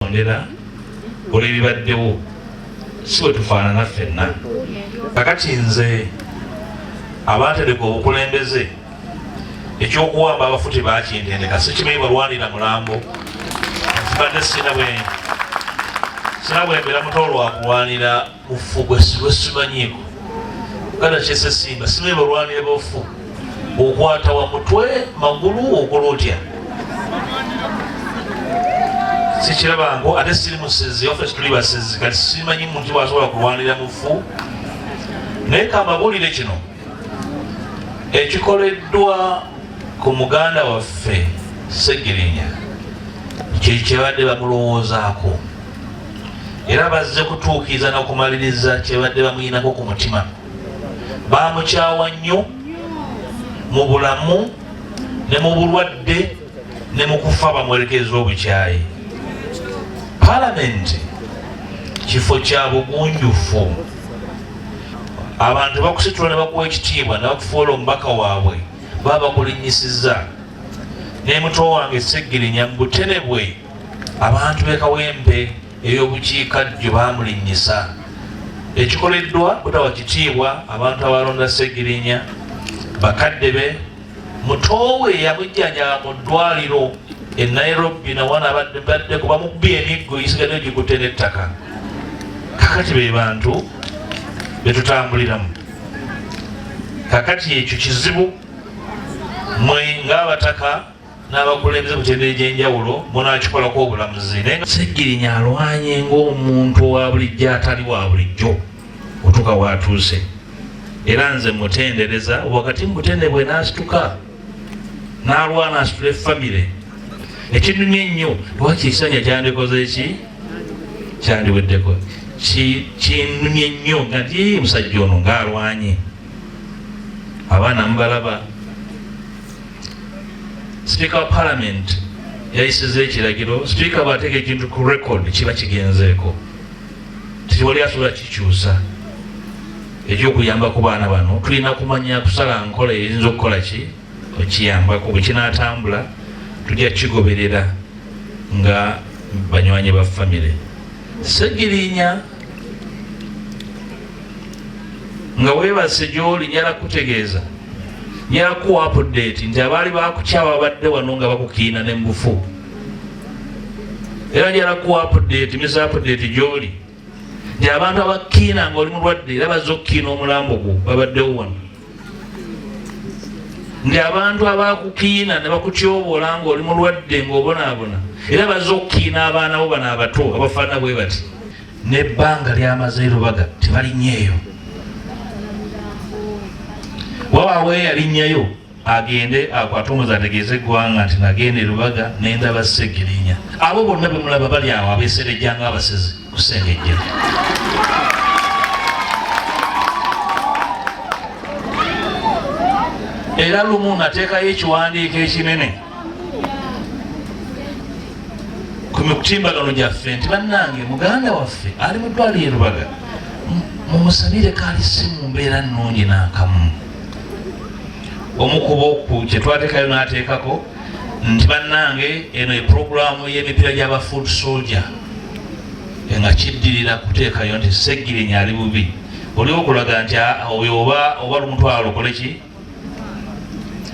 okutondera olw'ebibaddewo si bwe tufaanana ffenna kakati nze abaatereka obukulembeze ekyokuwamba abafuti bakintendeka sikimanyi balwanira mulambo nzibadde sina bwembeera muto lwakulwanira Ufu gwe simanyiiko kana kyesesimba simanyi balwanire bofu okwata wa mutwe magulu okola otya sikirabango ate siri musezi ofe tuli basezi kati simanyi muntu wasobola kulwanira mufu naye kamabulire kino ekikoleddwa ku muganda waffe segirinya kyekyebadde bamulowoozaako era bazze kutuukiriza nokumaliriza kyebadde bamuyinako ku mutima bamukyawa nnyo mu bulamu ne mu bulwadde ne mu kufa bamwerekereza obukyayi palamenti kifo kya bugunjufu abantu bakusitula nebakuwa ekitiibwa nebakufuula omubaka waabwe baba bakulinyisiza nemuto wange segirinya mubuterebwe abantu bekawempe eyobukiikaddyo bamulinnyisa ekikoleddwa butawa kitiibwa abantu abalonda segirinya bakadde be mutoowe eyamujjanjaba mu ddwaliro e nairobi nawana badde kuba mubbi emiggo gisigadde gikutte n'ettaka kakati be bantu betutambuliramu kakati ekyo kizibu mwe ng'abataka n'abakulembeze mu tendere gy'enjawulo munaakikolako obulamuzi naye ssegirinya alwanye ng'omuntu owa bulijjo atali wa bulijjo otuuka waatuuse era nze mutendereza wakati mu butende bwe n'asituka n'alwana asitule famire ekinumye ennyo lwaki ekisanja kyandikoze ki kyandiweddeko kinumye nnyo nga nti musajja ono ng'alwanye abaana mubalaba sipiika wa palamenti yayisiza ekiragiro sipiika bw'ateeka ekintu ku record kiba kigenzeeko tewali asobola kikyusa ekyokuyamba ku baana bano tulina kumanya kusala nkola eyinza okukola ki okiyambako bwe kinaatambula tujja kigoberera nga banywanyi ba famire segirinya nga weebase gy'oli nyala kukutegeeza nyala kukuwa apudeeti nti abaali bakukyawa abadde wano nga bakukiina ne mubufu era nyala kukuwa apudeeti misa apudeeti gy'oli nti abantu abakukiina nga oli mulwadde era bazze okukiina omulambo gwo babaddewo wano nti abantu abakukiina ne bakutyoboola ng'oli mulwadde ng'obonaabona era bazze okukiina abaana bo bano abato abafaanana bwe bati n'ebbanga lyamaze erubaga tebalinnyeeyo wabaawo eyalinnyayo agende akwate omuzi ategeeze eggwanga nti nagenda erubaga nendaba segirinya abo bonna bemulaba bali awo abeserejanga abasezi kusengejja era lumu nateekayo ekiwandiiko ekinene ku mitimbagano gyaffe nti bannange muganda waffe ali mu ddwaliro e rubaga mumusabire kaali si mu mbeera nnungi n'akamu omukuba oku kyetwatekayo n'ateekako nti bannange eno ye pulogulaamu y'emipiira gy'aba food soldier nga kiddirira kuteekayo nti segirinya ali bubi oli okulaga nti oyo oba oba lumutwalo okoleki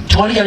tewali